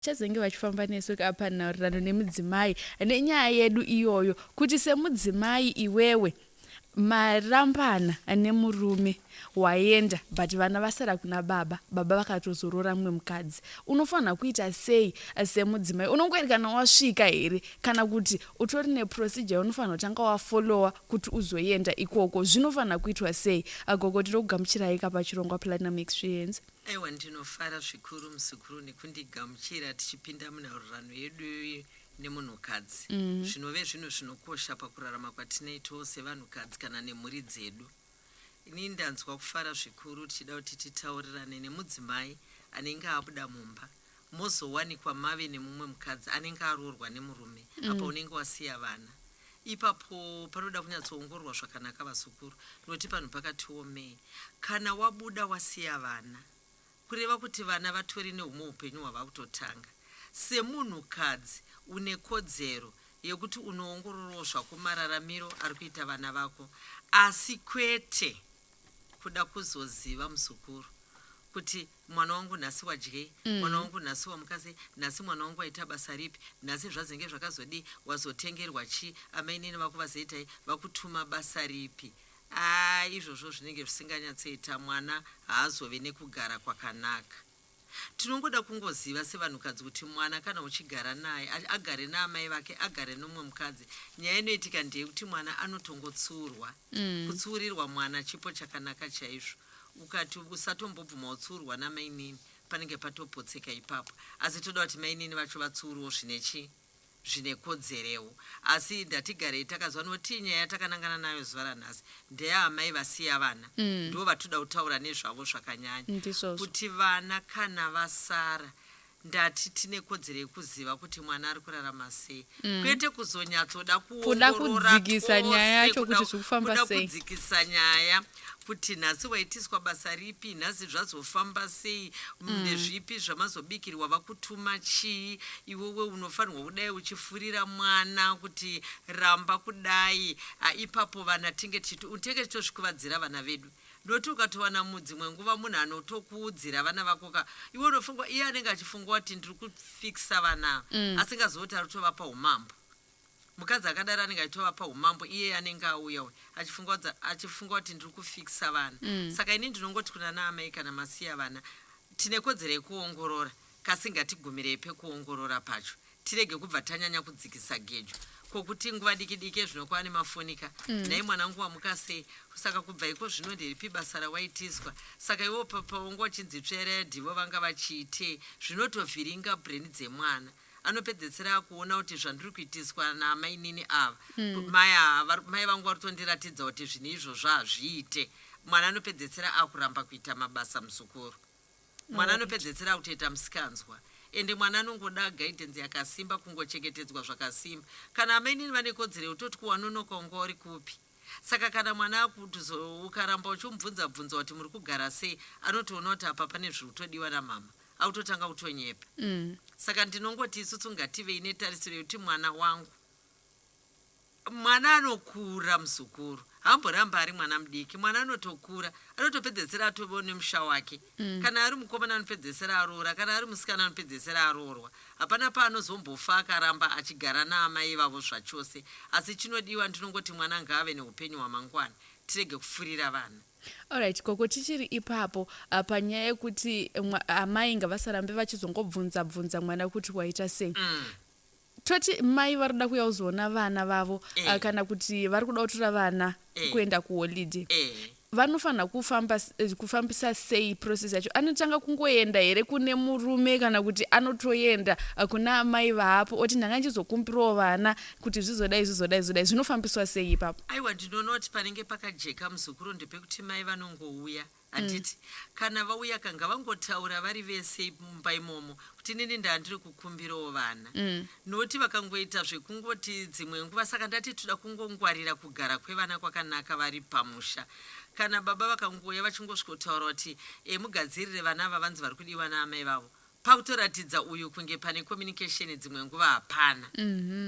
Vachazenge vachifamba nesu ka panhaurirano nemudzimai nenyaya yedu iyoyo kuti semudzimai iwewe marambana nemurume waenda but vana vasara kuna baba baba vakatozorora mumwe mukadzi unofanirwa kuita sei semudzimai unongoerekana wasvika here kana kuti utori neprocedure yaunofanirwa kutanga wafollowa kuti uzoenda ikoko zvinofanirwa kuitwa sei agogo tiri kugamuchirai ka pachirongwa platinum experience Aiwa ndinofara zvikuru muzukuru nekundigamuchira tichipinda munhaurirano yedu nemunhukadzi. Mm. Zvinove zvinhu zvinokosha pakurarama kwatinoitawo sevanhukadzi kana nemhuri dzedu. Ini ndanzwa kufara zvikuru tichida kuti titaurirane nemudzimai anenge abuda mumba mozowanikwa mave nemumwe mukadzi anenge aroorwa nemurume apa unenge wasiya vana ipapo panoda kunyatsoongororwa zvakanaka vazukuru nokuti panhu pakati womei kana wabuda wasiya vana kureva kuti vana vatori nehumwe upenyu hwavakutotanga semunhu kadzi une kodzero yekuti unoongororawo zvako mararamiro ari kuita vana vako asi kwete kuda kuzoziva muzukuru kuti Mwana wangu nhasi wadyei? Mwana wangu nhasi wamuka sei? Nhasi mwana wangu waita basa ripi? Nhasi zvazenge zvakazodii? Wazotengerwa chii? Amainini vako vazoitai? Vakutuma basa ripi? Aah izvozvo zvinenge zvisinganyatsoita mwana haazove nekugara kwakanaka. Tinongoda kungoziva sevanhukadzi kuti mwana kana uchigara naye agare naamai vake agare nomumwe mukadzi nyaya inoitika ndeyekuti mwana anotongotsuurwa. Kutsiurirwa mwana chipo chakanaka chaizvo. Ukati usatombobvuma utsiurwa namainini panenge patopotseka ipapo asi toda kuti mainini vacho vatsiurwewo zvine chii zvine kodzerewo asi ndatigarei takaziva notii nyaya yatakanangana nayo zuva ranhasi ndeyaamai vasiya vana ndovatoda kutaura nezvavo zvakanyanya kuti vana kana vasara ndati tine kodzero yekuziva kuti mwana ari kurarama sei mm. kwete kuzonyatsoda kuda kudzikisa nyaya yacho kuti zviri kufamba sei kuda kudzikisa nyaya kuti nhasi waitiswa basa ripi nhasi zvazofamba sei mm. nezvipi zvamazobikirwa vakutuma chii iwewe unofanirwa kudai uchifurira mwana kuti ramba kudai ipapo vana tinge titenge titozvikuvadzira vana vedu Not ukatowana mu dzimwe nguva munhu anotoku udzira vana vako ka iwe unofunga iye anenge achifunga kuti ndiri ku fixa vana ava asingazivi kuti ari kutovapa humambo. Mukadzi akadaro anenge achitovapa humambo iyeye anenge auya uyu achifunga kudza achifunga kuti ndiri ku fixa vana. Saka ini ndinongoti kuna na amai kana masiya vana tine kodzero yekuongorora Kasi ngatigumirei pekuongorora pacho tirege kubva tanyanya kudzikisa gejo. Ko kuti nguva diki diki ezvino kwava nemafoni ka. Mm. Nhai mwanangu wamuka sei? Saka kubva iko zvino nderipi basa rawaitiswa? Saka iwewo pa, pawanga uchinzi tsveredi ivo vanga vachiitei? Zvinotovhiringa brain dzemwana. Anopedzesera akuona kuti zvandiri kuitiswa naamainini ava. Mm. Mai ava vari- mai vangu vari kutondiratidza kuti zvinhu izvozvo hazviite. Mwana anopedzesera akuramba kuita mabasa muzukuru. Mwana anopedzetsera akutoita msikanzwa ende mwana anongoda guidance yakasimba kungochengetedzwa zvakasimba. Kana amainini vane kodzero yekutoti ko wanonoka unga uri kupi. Saka kana mwana akuzo ukaramba uchimubvunza bvunza kuti muri kugara sei anotoona kuti apa pane zviri kutodiwa namhamha akutotanga kutonyepa. Saka ndinongoti isusu ngativei netarisiro yekuti mwana wangu. Mwana anokura muzukuru haamborambi ari mwana mudiki mwana anotokura anotopedzesera atove nemusha wake mm. kana ari mukomana anopedzesera aroora kana ari musikana anopedzesera aroorwa hapana paanozombofa akaramba achigara naamai ivavo zvachose asi chinodiwa ndinongoti mwana ngaave neupenyu hwamangwana tirege kufurira vana allright koko tichiri ipapo uh, panyaya yekuti amai ngavasarambe vachizongobvunza bvunza mwana kuti waita sei mm. Toti mai vari kuda kuuya kuzoona vana vavo eh. Ah, kana kuti vari kuda kutora vana eh. kuenda kuholide eh. vanofanira kufamba eh, kufambisa sei process yacho anotanga kungoenda here kune murume kana kuti anotoenda ah, kuna amai vaapo oti ndanga ndichizokumbirawo vana kuti zvizodai zvizodai zvizodai zvinofambiswa sei ipapo aiwa ndinoona kuti panenge pakajeka muzukuru ndepekuti mai vanongouya Handiti kana vauyaka ngavangotaura vari vese ip- mumba imomo kuti inini ndandiri kukumbirawo vana noti vakangoita zvekungoti dzimwe nguva saka ndati toda kungongwarira kugara kwevana kwakanaka vari pamusha kana baba vakangouya vachingosvikotaura kuti e, mugadzirire vana ava vanzi vari kudiwa naamai vavo pakutoratidza uyu kunge pane communication dzimwe nguva hapana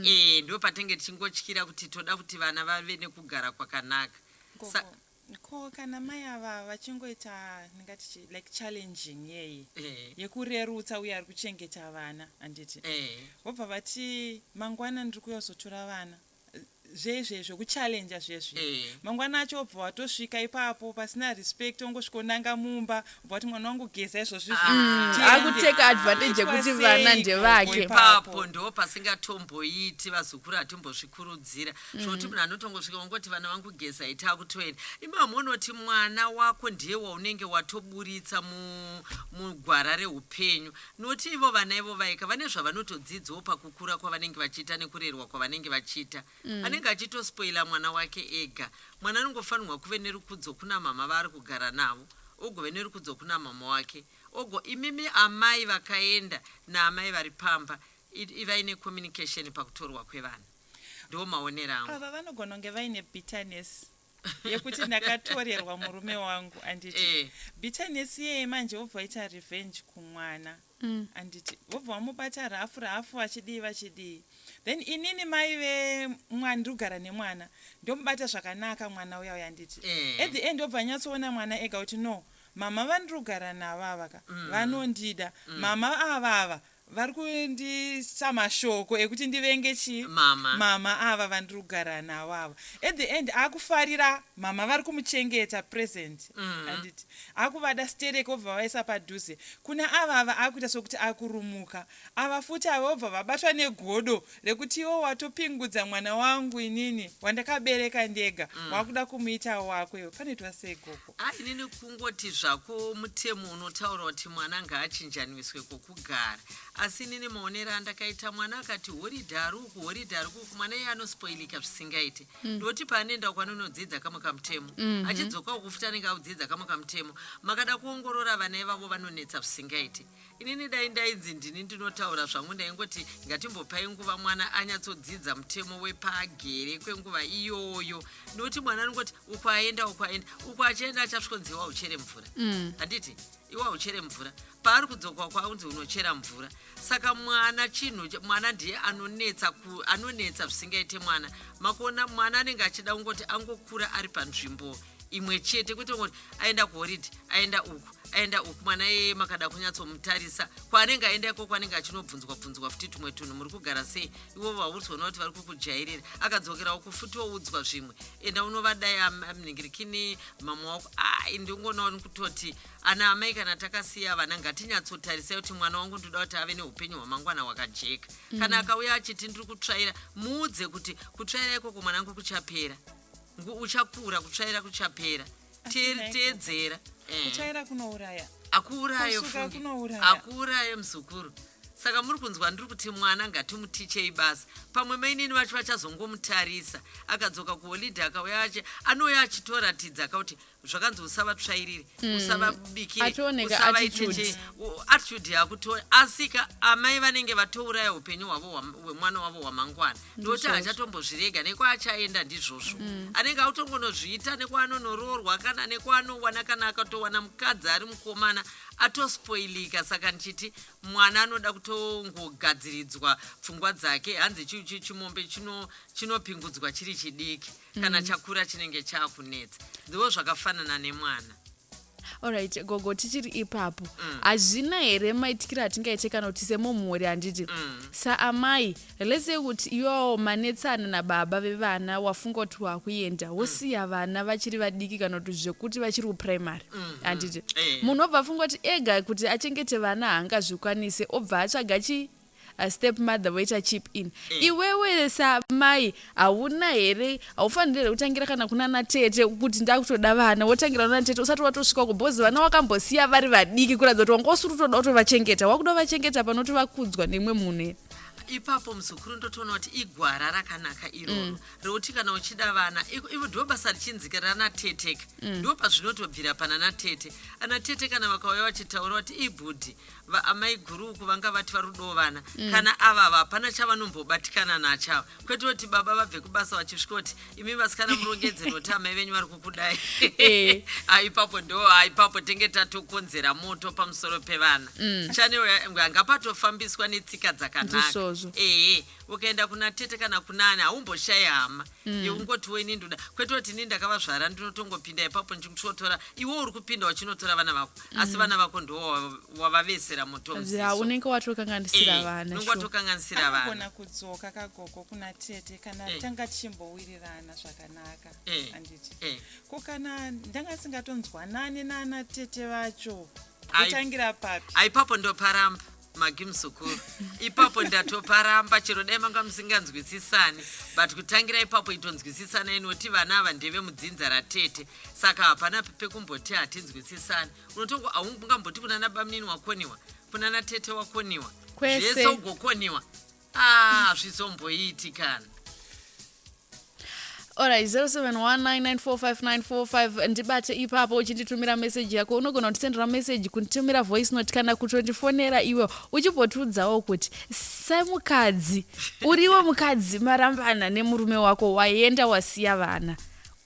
e, ndipo patinenge tichingotyira kuti toda kuti vana vave nekugara kwakanaka Sa- Gogo. Ko kana mai ava vachingoita ndingati chii like challenging yei Eh. yekurerutsa uye ari kuchengeta vana handiti Eh. vobva vati mangwana ndiri kuuya kuzotora vana zvezve zvekuchallenja zvezvi Eh. mangwana acho wobva watosvika ipapo pasina respect wongosvika wonanga mumba vati mwana wangu geza izvozvi Ah. Tiende. akuteka advantage yekuti Aitwa sei vana ko ndevake ipapo? ipapo ndo pasingatomboiti vazukuru hatimbozvikurudzira zvokuti munhu anotongosvika wongoti vana vangu geza ita akutoenda imamwe unoti mwana wako ndiye waunenge watoburitsa mu- mugwara reupenyu noti ivo vana ivo vaika vane zvavanotodzidzawo pakukura kwavanenge vachiita nekurerwa kwavanenge vachiita mm. anenge achitospoila mwana wake ega mwana anongofanirwa kuve nerukudzo kuna mama vaari kugara navo ogove nerukudzo kuna mama wake ogo imimi amai vakaenda naamai vari pamba ivai necommunication pakutorwa kwevana ndiwo maonero angu ava vanogona kunge vaine bitterness yekuti ndakatorerwa murume wangu anditi eh. bitterness iyeye manje wobva waita revenge kumwana mm. anditi wobva wamubata rafu rafu vachidii vachidii then inini mai vemwana ndiri kugara nemwana ndomubata zvakanaka mwana uya uya anditi eh. at the end wobva nyatsoona mwana ega kuti no mama vandiri kugara navo avaka mm. vanondida mm. mama avava ah, Vari kundisa mashoko ekuti ndivenge chii? Mama. Mama ava vandiri kugara navo ava. At the end akufarira mama vari kumuchengeta present handiti? Akuvada sterek obva avaisa padhuze. Kuna ava ava akuita sokuti akurumuka. Ava futi ava vobva vabatwa negodo rekuti iwe watopingudza mwana wangu inini wandakabereka ndega wakuda kumuita wako iwe. Panoitwa sei gogo? Haa inini kungoti zvako mutemo unotaura kuti mwana ngaachinjaniswe kokugara asi inini maonero andakaita mwana akati horidhe ari uku horidhe ari kuku mwana iye anospoilika zvisingaite mm. ndoti paanoenda uko anonodzidza kamwe kamutemo mm-hmm. achidzoka uku futi anenge audzidza kamwe kamutemo makada kuongorora vana ivavo vanonetsa zvisingaite Inini dai ndainzi ndini ndinotaura zvangu ndaingoti ngatimbopai nguva mwana anyatsodzidza mutemo wepaagere kwenguva iyoyo nokuti mwana anongoti uko aenda uko aenda uko achienda achasvikonzi iwa uchere mvura mm. handiti iwa uchere mvura paari kudzoka kwaunzi unochera mvura saka mwana chinhu mwana ndiye anonetsa anonetsa zvisingaite mwana makuona mwana anenge achida kungoti angokura ari panzvimbo imwe chete kwete ngoti aenda kuhoridhe aenda uku aenda uku mwana yeye makada kunyatsomutarisa kwaanenge aenda iko kwaanenge achinobvunzwa bvunzwa futi tumwe tunhu muri kugara sei ivo vauritsona kuti vari kukujairira akadzokerawo kufuti woudzwa zvimwe enda unovadai amningirikini mama wako ai ndingonawo nikutoti ana amai kana takasiya vana ngatinyatsotarisai kuti mwana wangu ndoda kuti ave neupenyu hwamangwana hwakajeka kana mm. akauya achiti ndiri kutsvaira muudze kuti kutsvaira ikoko mwana wangu kuchapera Ngu uchakura kutsvaira kuchapera. Teer- Teedzera. Eh. kuchaira kunouraya akuuraye Kusuka ufunge. kunouraya. akuuraye muzukuru saka muri kunzwa ndiri kuti mwana ngatimutichei basa pamwe mainini vacho vachazongomutarisa akadzoka kuholidhe akauya ache anouya achitoratidza ka kuti zvakanzi usavatsvairiri mm. usavabikire usavaitechei attitude yakuto asika amai vanenge vatouraya upenyu hwavo hwemwana wavo hwamangwana ndokuti hachatombozvirega nekwaachayenda ndizvozvo mm. anenge akutongonozviita nekwaanonoroorwa kana nekwaanowana kana akatowana mukadzi ari mukomana atospoilika saka ndichiti mwana anoda kutongogadziridzwa pfungwa dzake hanzi chimombe chinopingudzwa chiri chidiki chino kana mm. chakura chinenge chakunetsa ndiwo zvakafanana nemwana orit gogo tichiri ipapo mm. hazvina mm. here maitikira atingaite kana kuti semomhuri handiti mm. saamai lese kuti iwawo manetsana nababa vevana wafunga kuti wakuenda mm. wosiya mm. vana vachiri vadiki kana kuti zvekuti vachiri kuprimary mm, mm. handiti mm. munhu obva afunga kuti ega kuti achengete vana haangazvikwanise obva atsvaga chii step mother voita chip in mm. iwewe samai hauna here haufanire here kutangira kana kunana tete kuti ndakutoda vana wotangira kunana tete usati watosvika uko because vana wakambosiya vari vadiki kuratidza kuti wanga usiri kutoda kutovachengeta wakuda kuvachengeta panoti vakudzwa nemwe munhu here ipapo muzukuru ndotoona kuti igwara rakanaka iroro mm. rekuti kana uchida vana ivo ndo basa richinzika ranateteka mm. ndo pazvinotobvira pananatete anatete kana vakauya vachitaura kuti ibhudhi Va, amai guru uku vanga vati vari kudawo vana mm. kana avava hapana chavanombobatikana nacho ava kwete kuti baba vabve kubasa vachisvika kuti imi vasikana murongedzeni kuti amai venyu vari kukudai eh. aipapo ndo aipapo tenge tatokonzera moto pamusoro pevana mm. chanero yanga patofambiswa netsika dzakanaka ee ukaenda kuna tete kana kunani haumboshaye hama mm. yeungotiwo ini ndoda kwete kuti ini ndakavazvara ndinotongopinda ipapo ndichinotora iwe uri kupinda uchinotora vana vako mm. asi vana vako ndo wavavesera motounenge watokanganisira eh, vana unenge watokanganisira vanagona kudzoka kagogo kuna tete kana eh. tanga tichimbowirirana zvakanaka eh. handiti eh. ko kana ndanga singatonzwanane naana tete vacho kutangira papi aipapo ndoparamba Magi muzukuru, ipapo ndatoparamba chero dai manga musinganzwisisani but kutangira ipapo itonzwisisanai noti vana ava ndeve mudzinza ratete saka hapana pekumboti hatinzwisisani unotongo aungamboti kunana bamnini wakoniwa kunana tete wakoniwa zvese ugokoniwa Ah, hazvizomboiti kana. Alright, 0719945945 ndibate ipapo uchinditumira message yako unogona kutisendera message kunditumira voice note kana kutondifonera iwe uchimbotiudzawo kuti semukadzi uriwe mukadzi marambana nemurume wako waenda wasiya vana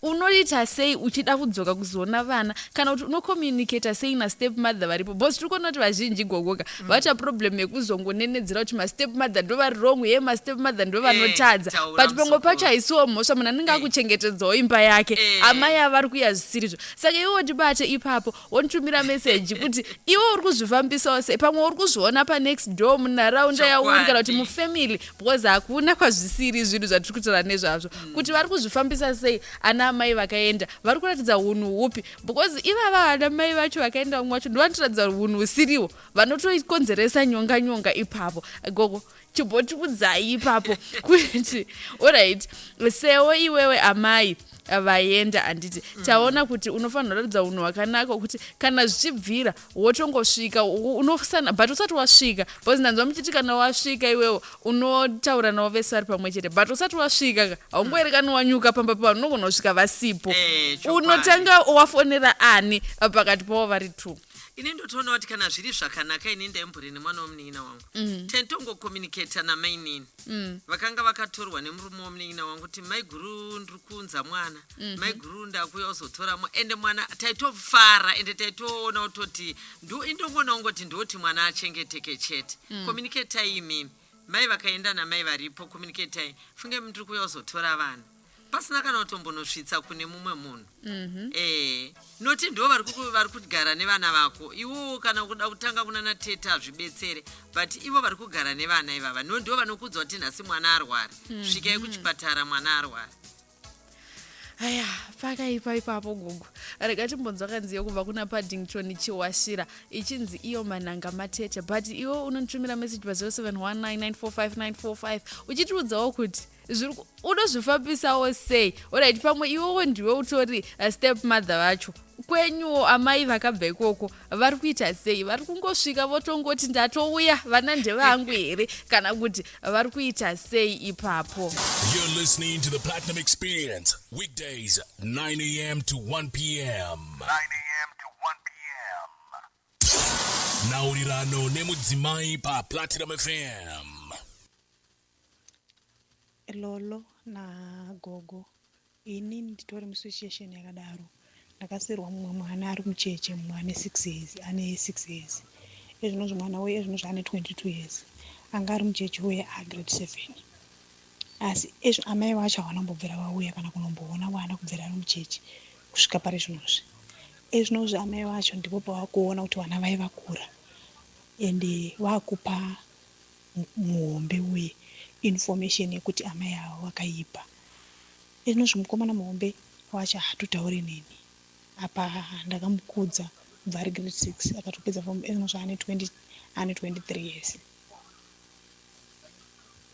Unoita sei uchida kudzoka kuzoona vana kana kuti uno communicator sei na step mother varipo because tiri kuona kuti vazhinji igogoka mm. vaita problem yekuzongonenedzera kuti ma step mother ndo vari wrong ye ma step mother ndo eh, vanotadza hey, but pamwe pacho haisiwo mhosva munhu anenge hey. Eh. akuchengetedzawo imba yake hey. Eh. amai avari kuya zvisirizvo saka iwo ndibate ipapo wontumira meseji kuti iwe uri kuzvifambisawo sei pamwe uri kuzviona panext door munharaunda yauri kana kuti mufamily because hakuna kwazvisiri zvinhu zvatiri kutaura nezvazvo mm. kuti vari kuzvifambisa sei ana amai vakaenda vari kuratidza unhu hupi because ivava ana mai vacho vakaenda vamwe vacho ndovanotoratidza unhu husiriwo vanotokonzeresa nyonga nyonga ipapo gogo chimbotiudzai ipapo kuti orit sewo iwewe amai vaenda handiti mm. taona kuti unofanira kuratidza unhu hwakanaka wekuti kana zvichibvira wotongosvika unosana but usati wasvika because ndanzwa muchiti kana wasvika iwewo unotaura navo vese vari pamwe chete but usati wasvika ka haungoerekani wanyuka pamba pavanhu unogona kusvika vasipo eh, unotanga wafonera ani pakati pavo vari two ini ndotoona kuti kana zviri zvakanaka ini ndaimbori nemwana wemunin'ina wangu mm. tentongokomunicata namainini mm. vakanga vakatorwa nemurume wemunin'ina wangu kuti maiguru ndiri kuunza mwana mm -hmm. maiguru ndakuya uzotora mwa ende mwana taitofara ende taitoona kutoti indongoona kungoti ndoti mwana achengeteke chete mm. komuniketai imimi mai vakaenda namai varipo komuniketai funge mndiri kuya uzotora vana pasina kana kutombonosvitsa kune mumwe munhu mm-hmm. eh noti ndo vari vari kugara nevana vako iwowo kana kuda kutanga kunana tete hazvibetsere but ivo vari kugara nevana ivava no ndo vanokudzwa kuti nhasi mwana arwari mm-hmm. svikai kuchipatara mwana arwari aya pakaipa ipapo gogo rega timbonzwa kanzi yokubva kuna paddington chiwashira ichinzi iyo mananga matete but iwo unonditumira message pa 0719945945 uchitiudzawo kuti unozvifambisawo sei orit pamwe iwowo ndiwe utori uh, step mother vacho kwenyuwo amai vakabva ikoko vari kuita sei vari kungosvika votongoti ndatouya vana ndevangu here kana kuti vari kuita sei ipapo nhaurirano nemudzimai paplatinum fm Lolo na gogo ini nditori mu situation yakadaro ndakasiirwa mumwe mwana ari mucheche mumwe ane six years ane six years ezvinozvi mwana uye ezvinozvi ane 22 years anga ari mucheche uye a grade seven asi ezvi amai vacho havana kumbobvira vauya kana kunomboona mwana kubvira ari mucheche kusvika pari zvinozvi ezvinozvi amai vacho ndipo pavakuona kuti vana vai vakura ende vakupa muhombe uye information yekuti amai ava vakaipa izvinozvi mukomana muhombe wacho haatotaure neni apa ndakamukudza kubva ari grade six akatopedza form izvinozvi ane 20 ane 23 years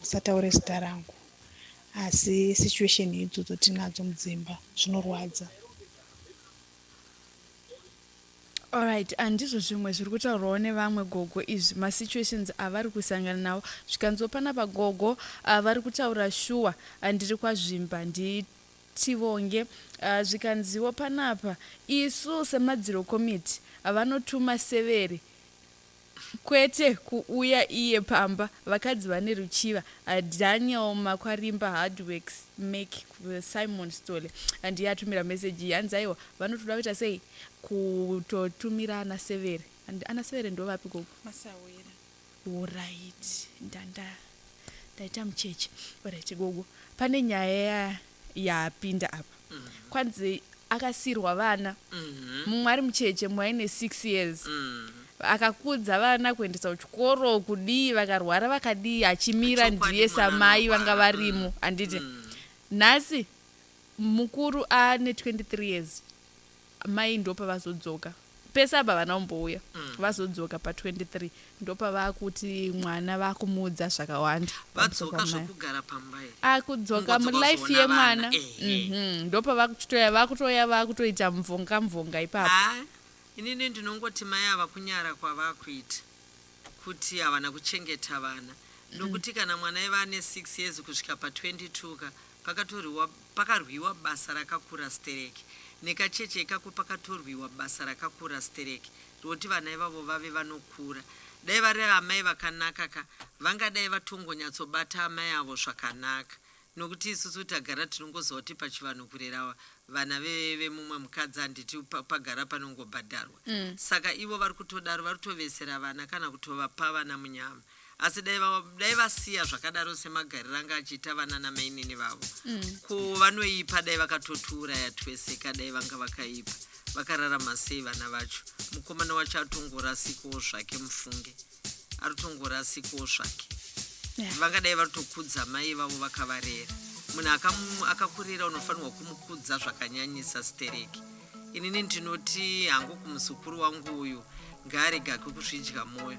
musataure zita rangu asi situation idzodzo tinadzo mudzimba zvinorwadza Alright handizvo zvimwe zviri kutaurwawo nevamwe gogo izvi ma situations avari kusangana nawo zvikanziwo panapa gogo uh, vari kutaura shuwa uh, ndiri kwazvimba ndi tivonge uh, zvikanziwo panapa isu semadziro committee uh, vanotuma severi Kwete kuuya iye pamba vakadzi vane ruchiva Daniel Makwarimba hard works make Simon Sithole ndiye atumira message iyi hanzi aiwa vanotoda kuita sei kutotumira ana severe and ana severe ndovapi gogo Masahwira Horaiti ndanda ndaita mucheche Horaiti gogo pane nyaya yapinda apa kwanzi akasiirwa vana mumwe ari mucheche mumwe aine six years akakudza vana kuendesa kuchikoro kudii vakarwara vakadii achimira Chokwadi ndiye mwana samai vanga anorwara. varimo handiti nhasi mukuru ane 23 years Mai ndopavazodzoka pese apa havana kumbouya mm. vazodzoka pa 23 ndopavakuti mwana vakumuudza zvakawanda vadzoka zvokugara pamba akudzoka ah, mulife yemwana mhm. ndopavakuchitoya vakutoya vakutoita mvonga mvonga ipapo ah, inini ndinongoti mai ava kunyara kwavakuita kuti havana kuchengeta vana mm. nokuti kana mwana iva ane 6 years kusvika pa 22 ka Pakatorwiwa pakarwiwa basa rakakura stereki nekacheche ikako pakatorwiwa basa rakakura stereki roti vana ivavo vave vanokura dai vari amai vakanaka ka vangadai vatongonyatsobata amai avo zvakanaka nokuti isusu tagara tinongoziva kuti pachivanhu kurera vana vemumwe mukadzi handiti pagara panongobhadharwa mm. saka ivo vari kutodaro vari kutovesera vana kana kutovapa vana munyama asi dai va- dai vasiya zvakadaro semagariro anga achiita vana namainini vavo ko vanoipa dai vakatotiuraya twese ka dai vanga vakaipa vakararama sei vana vacho mukomana wacho atongorasikawo zvake mufunge atongorasikawo zvake Yeah. vangadai vatokudza mai vavo vakavarera munhu akamu- akakurera unofanirwa kumukudza zvakanyanyisa stereki inini ndinoti hangu kumuzukuru wangu uyu ngaarega kukuzvidya mwoyo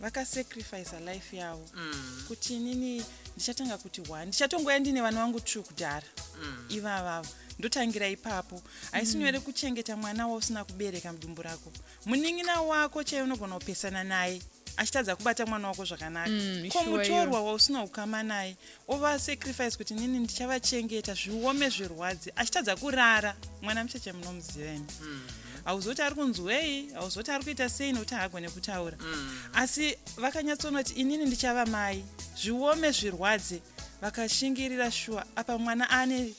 vakasacrifice life yavo mm. kuti inini ndichatanga kuti one ndichatongouya ndine vana vangu true kudhara mm. ivavavo ndotangira ipapo haisi mm. nyore mm. kuchengeta mwana wausina kubereka mudumbu rako munin'ina wako chaiye unogona kupesana naye achitadza kubata mwana wako zvakanaka mm, ko mutorwa wausina ukama naye ova sacrifice kuti nini ndichavachengeta zviome zvirwadzi achitadza kurara mwana mucheche munomuziva ini mm. hauzoti ari kunzwei hauzoti ari kuita sei nokuti haagone kutaura mm. asi vakanyatsonoti inini ndichava mai zviome zvirwadze vakashingirira shuwa apa mwana ane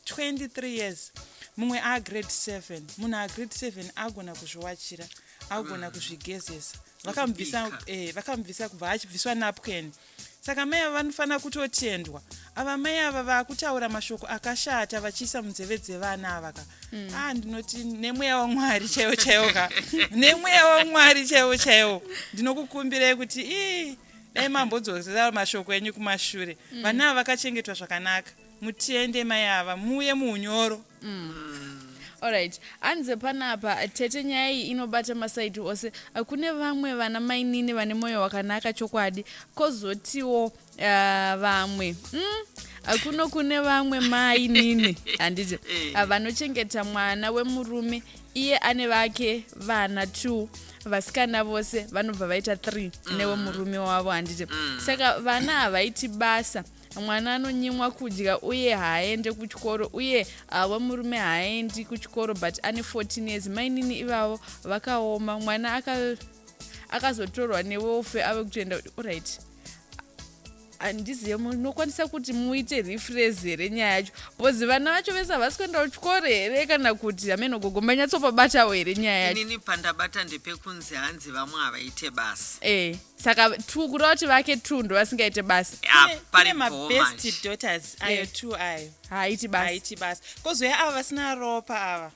23 years mumwe agrade 7 munhu agrade 7 agona kuzviwachira agona mm. kuzvigezesa vakamubvisa eh, kubva achibviswa napken mm. Saka mai ava vanofanira kutotendwa. Ava mai ava vakutaura mashoko akashata vachiisa munzeve dzevana ava ka. Mm. Ah ndinoti nemweya waMwari chaiwo chaiwo ka. nemweya waMwari chaiwo chaiwo. Ndinokukumbirai kuti ii dai mambodzosera mashoko enyu kumashure. Mm. Vana ava vakachengetwa zvakanaka. mutende mai ava muuye muunyoro Alright, hanzi panapa tete nyaya iyi inobata masaidi ose. Uh, Kune vamwe vana mainini vane moyo wakanaka chokwadi, kozotiwo uh, vamwe mm? uh, kuno kune vamwe mainini handiti uh, vanochengeta mwana wemurume iye ane vake vana two vasikana vose vanobva vaita three newemurume wavo handiti saka vana havaiti basa mwana anonyimwa kudya uye haaende kuchikoro uye avo murume haaendi kuchikoro but ane 14 years mainini ivavo vakaoma mwana aka akazotorwa newofe ave kutoenda right handizive munokwanisa kuti muite refres here nyaya yacho bcause vana vacho vese havasi kuenda kuchikoro here kana kuti hameno gogo manyatsopabatawo here nyaya yachoinini pandabata ndepekunzi hanzi vamwe havaite basa e eh. hey. saka two kureva kuti vake two ndovasingaite basa Ah, Kune- pari kune bhoo mabest manje. daughters ayo Yeah. two ayo haaiti basa haiti basa kozouya ava vasina ropa ava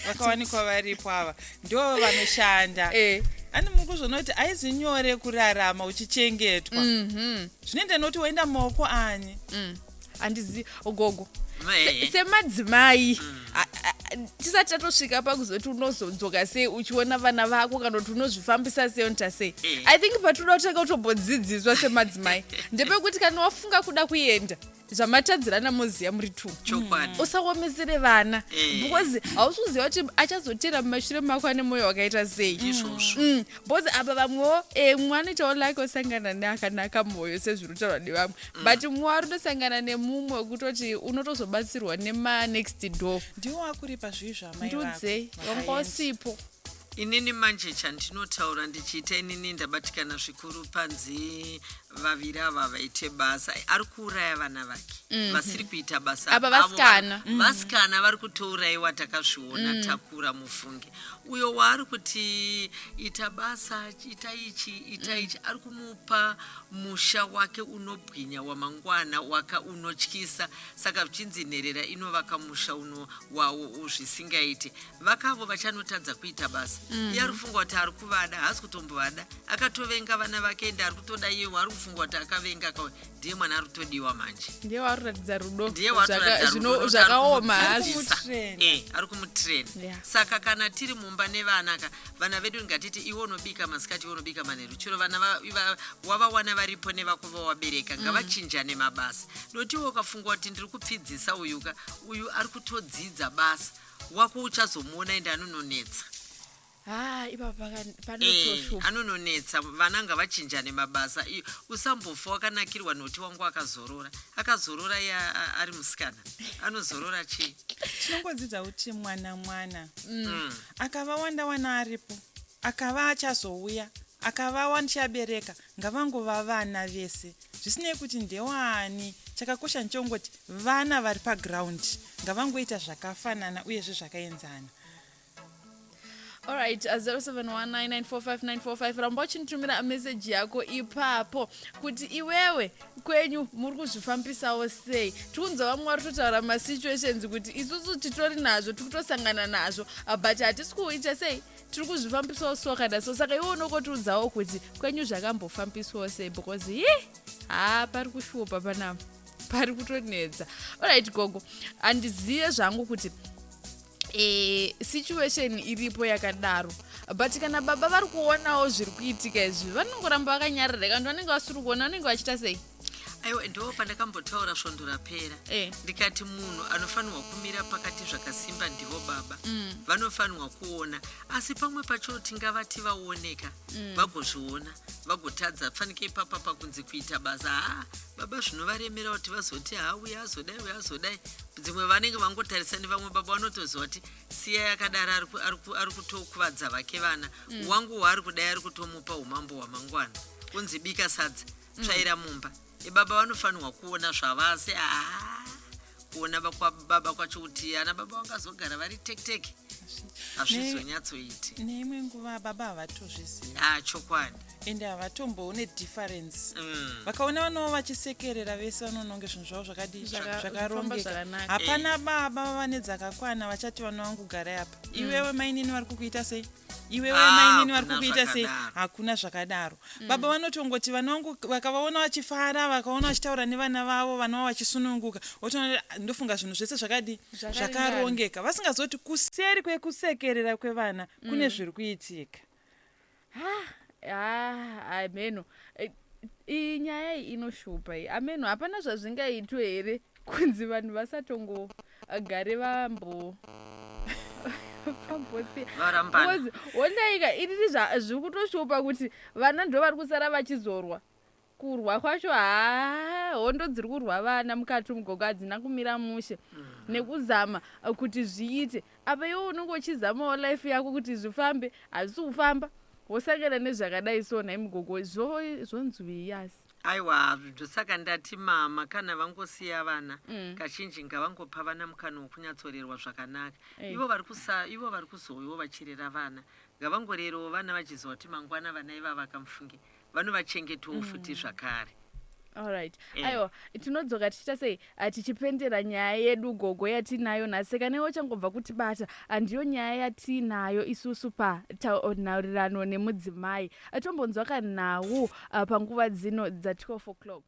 vakawanikwa varipo ava ndo vanoshanda Eh. ani muri kuzvonoti aizi nyore kurarama uchichengetwa zvinoenda noti waenda mumaoko ani handizi gogo Se- semadzimai a- a- a- tisati tatosvika pakuzoti unozodzoka sei uchiona vana vako kana kuti unozvifambisa sei unoita sei Eh. i think patinoda kutanga kutombodzidziswa semadzimai ndepekuti kana wafunga kuda kuenda zvamatadzirana moziya muri two chokwadi usaomesere vana Eh. because hausi kuziva kuti achazotera mumashure mako ane mwoyo wakaita sei izvozvo Mm, because apa vamwewo eh, mwana itawo lake osangana neakanaka mwoyo sezviri kutaurwa nevamwe but mwari unosangana nemumwe wekutoti unotozobatsirwa nemanext door ndiwo akuripa zvivi zvaamai ndiudzei vako wanga Makaenda. usipo inini manje chandinotaura ndichiita inini ndabatikana zvikuru panzi vaviri ava vaite basa ari kuuraya vana vake vasiri kuita basa Apa avo vasikana. vari- vasikana vari kutouraiwa takazviona takura mufunge uyo waari kuti ita basa ita ichi ita ichi ari kumu Pa musha wake unobwinya wamangwana waka unotyisa saka vchinzi nherera inovaka musha uno wawo zvisingaite vakavo vachanotadza kuita basa mm. iye ari kufunga kuti ari kuvada haasi kutombovada akatovenga vana vake ende ari kutoda iye ari kufunga kuti akavenga ndiye mwana ari kutodiwa manje ndiye waruratidza rudo ndiye watoratidza rudo nekuti ari zvakaoma hazi kumudzidzisa. Kumutrainer. Eh, ari kumutrain Yeah. saka kana tiri mumba nevana ka vana vedu ngatiti iwe unobika masikati iwe unobika manheru chero vana va- va- wavawana varipo nevako vawabereka ngavachinjane mabasa noti iwe ukafunga kuti ndiri kupfidzisa uyu ka uyu ari kutodzidza basa wako uchazomuona ende anononetsa haa ipapa Eh, panotoshupa anononetsa vana ngavachinjane mabasa iyo usambofa wakanakirwa noti wangu akazorora akazorora iye a- a- ari musikana anozorora chii tinongodzidza kuti mwana mwana Mm. akava wanda wana aripo akava achazouya akava wandichabereka ngavangova vana vese zvisinei kuti ndewaani chakakosha ndichongoti vana vari pagiraundi ngavangoita zvakafanana uyezve zvakaenzana Alright, uh, 0719945945 ramba uchinitumira message yako ipapo kuti iwewe kwenyu muri kuzvifambisawo sei tikunzwa vamwe vari kutotaura masituations kuti isusu titori nazvo tiri kutosangana nazvo uh, but hatisi kuita sei tiri kuzvifambisawo so kana so saka iwe unokotiudzawo kuti kwenyu zvakambofambiswawo sei because hi haa pari kushupa panapa pari kutonetsa olright gogo handizive zvangu kuti e, situation iripo yakadaro but kana baba vari kuonawo zviri kuitika izvi vanongoramba vakanyarira kanti vanenge vasiri kuona vanenge vachita sei aiwa ndo pandakambotaura svondo rapera eh. ndikati munhu anofanirwa kumira pakati zvakasimba ndivo baba mm. vanofanirwa kuona asi pamwe pacho tingavati vaoneka mm. vagozviona vagotadza fanike ipapa pakunzi kuita basa haa baba zvinovaremera kuti vazoti haa uya azodai uya azodai dzimwe vanenge vangotarisa nevamwe baba vanotoziva kuti siya yakadaro ari kutokuvadza vake vana mm. wangu waari kudai ari kutomupa umambo hwamangwana kunzi bika sadza mm. tsvaira mumba ibaba vanofanirwa kuona zvavasi aa kuona baba kwacho kuti ana baba vangazogara vari tekteke hazvizonyatsoiti neimwe nguva baba havatozviziva ah, chokwadi ende havatomboone difference Mm. vakaona vanowo vachisekerera vese vanononge zvinhu zvavo zvakadii Zvaka- zvofamba zvakarongeka zvakanaka. hapana baba vane dzakakwana vachati vana vangu garai apa iwewe mainini vari kukuita sei iwewe Ah, mainini vari hakuna kukuita sei zvakadaro. hakuna zvakadaro baba vanotongoti vana vangu vakavaona vachifara vakaona vachitaura nevana vavo vana vavo vachisununguka otoona ndofunga zvinhu zvese zvakadii Zvakaringana. zvakarongeka vasingazoti kuseri kwekusekerera kwevana kune zviri kuitika hameno eh, iyi nyaya iyi inoshupa iyi ameno hapana zvazvingaitwe here kunzi vanhu vasatongogare vambo pambosiaondaika iriri zviri kutoshupa kuti vana ndo vari kusara vachizorwa Kurwa kwacho haa hondo dziri kurwa vana mukati umu gogo hadzina kumira mushe nekuzama uh, kuti zviite apa iwe unenge uchizamawo life yako kuti zvifambe hazvisi kufamba wosangana nezvakadai so nhai mugogo zvo- zvonzwii yasi aiwa hazvo ndosaka ndati mama kana vangosiya vana Mm. kazhinji ngavangopa vana mukana wokunyatsorerwa zvakanaka Eh. ivo vari kusa ivo vari kuzouyawo vachirera vana ngavangorerewo vana vachiziva kuti mangwana vana ivava kamufunge vanovachengetawo mm. futi zvakare allright eh. aiwa tinodzoka tichiita sei ah, tichipendera nyaya yedu gogo yatiinayo nhasi seka newe uchangobva kuti bata handiyo ah, nyaya yatiinayo isusu panhaurirano nemudzimai atombonzwa kanhau ah, panguva dzino dza12 o'clock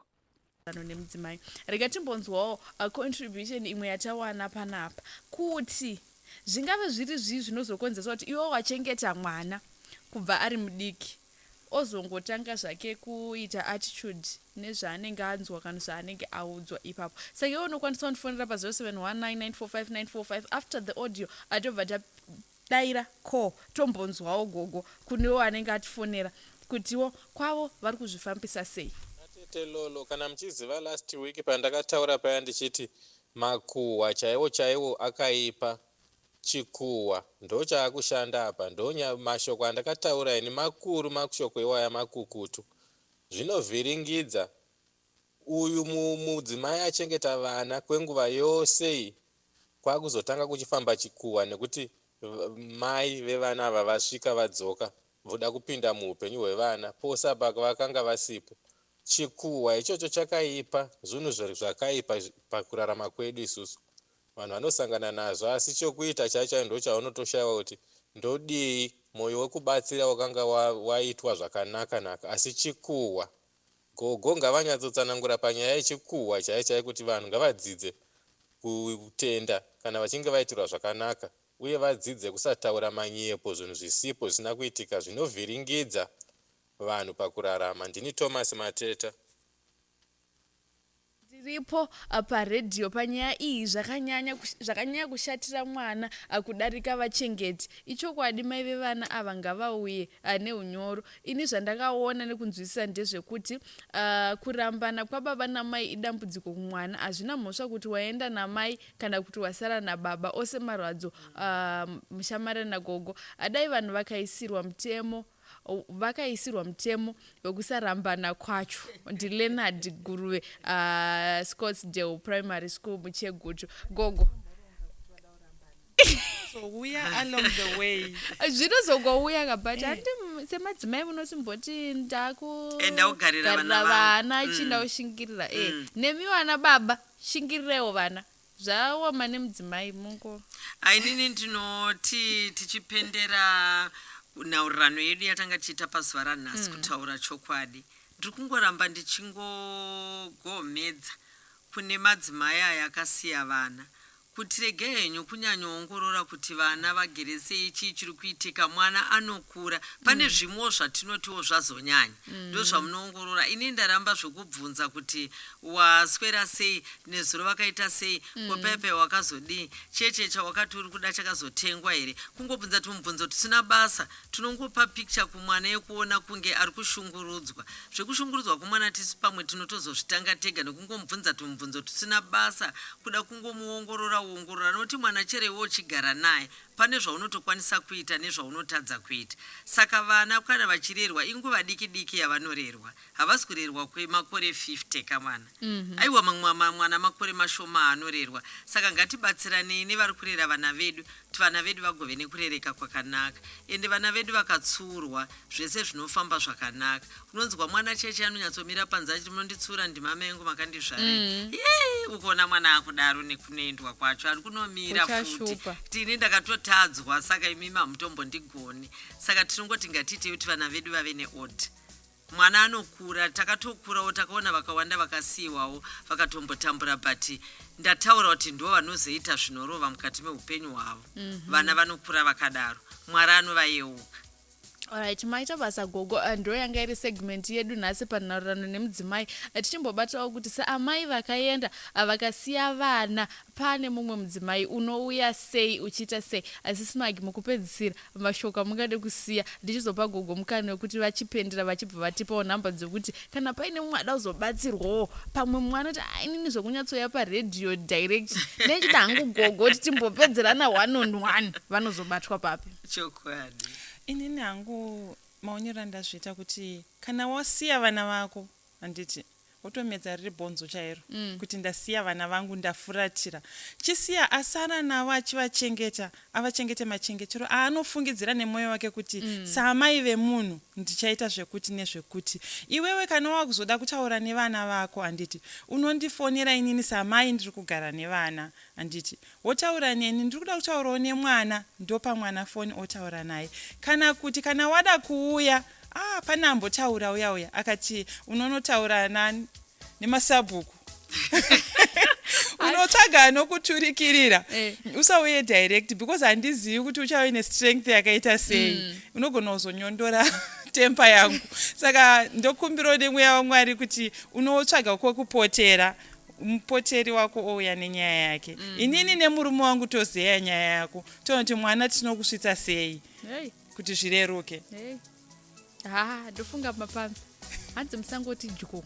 maererano nemudzimai. Rega timbonzwawo a contribution imwe yatawana panapa kuti zvingave zviri zvii zvinozokonzeresa kuti iwe wachengeta mwana kubva ari mudiki ozongotanga zvake kuita attitude nezvaanenge anzwa kana zvaanenge audzwa ipapo saka iwe unokwanisa kundifonera pa 0719945945 after the audio atobva Daira ko tombonzwawo gogo kunewo anenge atifonera kutiwo kwavo vari kuzvifambisa sei. Atete Lolo kana muchiziva last week pandakataura paya ndichiti makuhwa chaiwo chaiwo akaipa chikuhwa ndochaakushanda apa ndonya mashoko andakataura ini makuru mashoko iwaya makukutu zvinovhiringidza uyu mudzimai achengeta vana kwenguva yose iyi kwakuzotanga kuchifamba chikuwa nekuti Mai vevana ava vasvika vadzoka voda kupinda muhupenyu hwevana pose apa vakanga vasipo chikuwa ichocho chakaipa zvunhu zvakaipa pakurarama kwedu isusu vanhu vanosangana nazvo asi chokuita chaicho ndochaunotoshaiwa kuti ndodii moyo wekubatsira wakanga waitwa zvakanaka naka asi chikuwa Gogo ngavanyatsotsanangura panyaya yechikuhwa chaiye chaiye kuti vanhu ngavadzidze kutenda kana vachinge vaitirwa zvakanaka uye vadzidze kusataura manyepo zvinhu zvisipo zvisina kuitika zvinovhiringidza vanhu pakurarama ndini Thomas Mateta. Ndiripo pa radio panyaya iyi zvakanyanya zvakanyanya kushatira mwana kudarika vachengeti. Ichokwadi mai vevana ava ngavauye nehunyoro. Ini zvandakaona nekunzwisisa ndezvekuti uh, kurambana kwababa namai idambudziko kumwana. Hazvina mhosva kuti waenda namai kana kuti wasara nababa. Ose marwadzo uh, mushamare nagogo. Adai vanhu vakaisirwa mutemo vakaisirwa mutemo wekusarambana kwacho ndileonard guruve uh, scottsdale primary school muchegutu gogo zvinozongouya kabut eh. andi semadzimai munosimboti ndakugarira eh, vana chii mm. ndaushingirira e eh. mm. nemiwo ana baba shingirirewo vana Zvaoma nemudzimai mungo. Ainini ndinoti tichipendera nhaurirano yedu yatanga tichiita pazuva ranhasi kutaura chokwadi ndiri kungoramba ndichingogomhedza kune madzimai aya akasiya vana kuti regai henyu kunyanyoongorora kuti vana vagere sei chii chiri kuitika mwana anokura pane zvimwewo zvatinotiwo zvazonyanya mm. ndozvamunoongorora ini ndaramba zvekubvunza kuti waswera sei nezuro vakaita sei mm. kopepe wakazodii cheche chawakati uri kuda chakazotengwa here kungobvunza tumubvunzo tusina basa tunongopa picture kumwana yekuona kunge ari kushungurudzwa zvekushungurudzwa kwemwana tisu pamwe tinotozozvitanga tega nekungomubvunza tumubvunzo tusina basa kuda kungomuongorora uongorora nokuti mwana chero iwe uchigara naye pane zvaunotokwanisa kuita nezvaunotadza kuita. Saka vana kana vachirerwa inguva diki diki yavanorerwa. Havasi kurerwa kwemakore 50 kamwana. Aiwa mamwe mwana makore mashoma aanorerwa. Saka ngatibatsiranei nevari kurera vana vedu kuti vana vedu vagove nekurereka kwakanaka. Ende vana vedu vakatsiurwa zvese zvinofamba zvakanaka. unonzwa mwana cheche anonyatsomira panze achiti munonditsura ndima mengu makandizvarei mm. yei ukuona mwana akudaro nekunoendwa kwacho ari kunomira futi tini ndakatotadzwa saka imimi hamutombo ndigoni saka tinongoti ngatiitei kuti vana vedu vave neod mwana anokura takatokurawo takaona vakawanda vakasiyiwawo vakatombotambura but ndataura kuti ndivo vanozoita zvinorova mukati meupenyu hwavo mm -hmm. vana vanokura vakadaro mwari anovayeuka Alright, maita basa gogo uh, ndo yanga iri segment yedu nhasi panhaurirano nemudzimai uh, tichimbobatawo kuti saamai vakaenda uh, vakasiya vana pane mumwe mudzimai unouya sei uchiita sei asi smagi mukupedzisira mashoko amungade kusiya ndichizopa gogo mukana wekuti vachipendera vachibva vatipawo nhamba dzekuti kana paine mumwe ada kuzobatsirwawo pamwe mumwe anoti ainini zvekunyatsoya paredhiyo direct nechida hangu gogo kuti timbopedzerana one on one vanozobatwa papi chokwadi inini hangu maonero andazviita kuti kana wasiya vana vako handiti wotomedza riri bhonzo chairo mm. kuti ndasiya vana vangu ndafuratira chisiya asara navo achivachengeta avachengete machengetero aanofungidzira nemwoyo wake kuti mm. saamai vemunhu ndichaita zvekuti nezvekuti iwewe kana wakuzoda kutaura nevana vako handiti unondifonera inini saamai ndiri kugara nevana Handiti wotaura neni ndiri kuda kutaurawo nemwana ndopa mwana foni otaura naye kana kuti kana wada kuuya ah pane ambotaura uya uya akati unonotaura nani nemasabhuku unotsvaga anokuturikirira eh. usauye direct because handizivi kuti uchave nestrength yakaita sei mm. unogona kuzonyondora tempa yangu saka ndokumbirawo nemweya wamwari kuti unotsvaga kwekupotera mupoteri wako ouya nenyaya yake mm -hmm. inini nemurume wangu tozeya nyaya yako tonoti mwana tinokusvitsa sei hey. kuti zvireruke hey. ha ndofunga mapambi hanzi musangoti dyo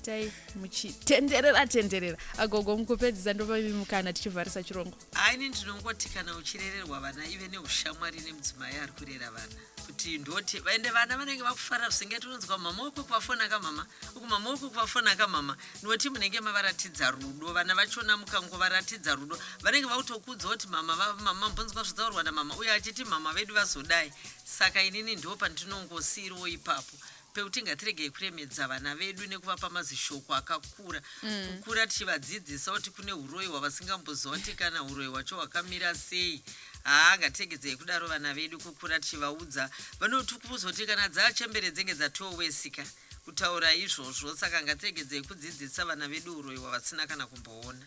tai muchitenderera tenderera agogo mukupedzisa ndovavimukana tichivharisa chirongo Haa ini ndinongoti kana uchirererwa vana ive neushamwari nemudzimai ari kurera vana kuti ndoti vaende vana vanenge vakufara zvisingeti unonzwa mama wako kuvafona kamama uku mama wako kuvafona kamama noti munenge mavaratidza rudo vana vachona mukangovaratidza rudo vanenge vakutokuudza kuti mama vamama mbonzwa zvataurwa namama uye achiti mama vedu vazodai saka inini ndo pandinongosiiriwo ipapo pekuti ngatiregei kuremedza vana vedu nekuvapa mazishoko akakura mm. kukura tichivadzidzisa kuti kune uroyi hwavasingamboziva kuti kana uroyi hwacho hwakamira sei haa ngatiregedzei kudaro vana vedu kukura tichivaudza vanotukurudzwa kuti kana dzaachembere dzenge dzatowesika kutaura izvozvo saka ngatiregedzei kudzidzisa vana vedu uroyi hwavasina kana kumboona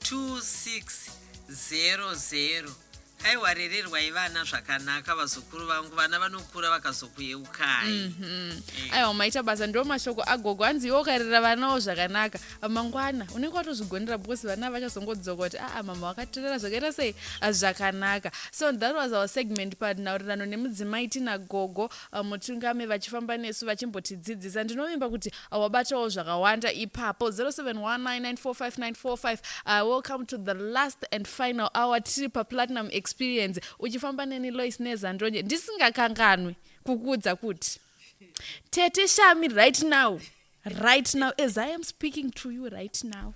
2600 Haiwa rererwai vana zvakanaka vazukuru vangu vana vanokura vakazokuyeukai mm -hmm. yeah. aiwa maita basa ndo mashoko agogo hanzi iwe ukarera vanawo zvakanaka mangwana unenge watozvigonera because vana vachazongodzoka kuti aa mama wakatirera zvakaita sei ah, zvakanaka so that was our segment panhaurirano nemudzimai tina gogo ah, mutungame vachifamba nesu vachimbotidzidzisa ndinovimba kuti Wabatawo zvakawanda ipapo 0719945945 uh, welcome to the last and final hour tiri paplatinum experience uchifamba neni lois nezandonje ndisingakanganwi kukuudza kuti tete shami right now right now as i am speaking to you right now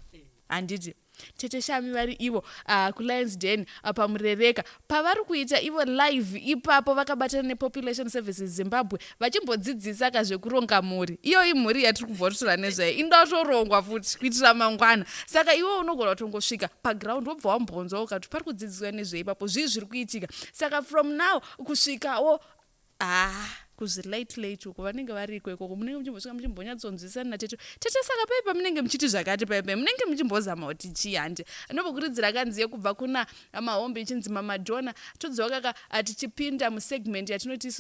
handiti Tete Shami vari ivo uh, kuLions Den uh, ah, paMurereka pavari kuita ivo live ipapo vakabatana nePopulation Services Zimbabwe vachimbodzidzisa ka zvekuronga mhuri. Iyo imhuri yatiri kubva kutaura nezvayo inoda kutorongwa futi kuitira mangwana. Saka iwe unogona kutongosvika paground wobva wambonzwa ukati pari kudzidziswa nezveipapo zvii zviri kuitika. Saka from now kusvikawo Haa kuzvi late late uko vanenge variko ikoko munenge muchimbosvika muchimbonyatsonzwisana natete tete saka pai pamunenge muchiti zvakati pai pai munenge muchimbozama kuti chii handi anombokurudzira akanzi yekubva kuna mahombe ichinzi mamadhona todzokaka atichipinda musegment yatinoti isu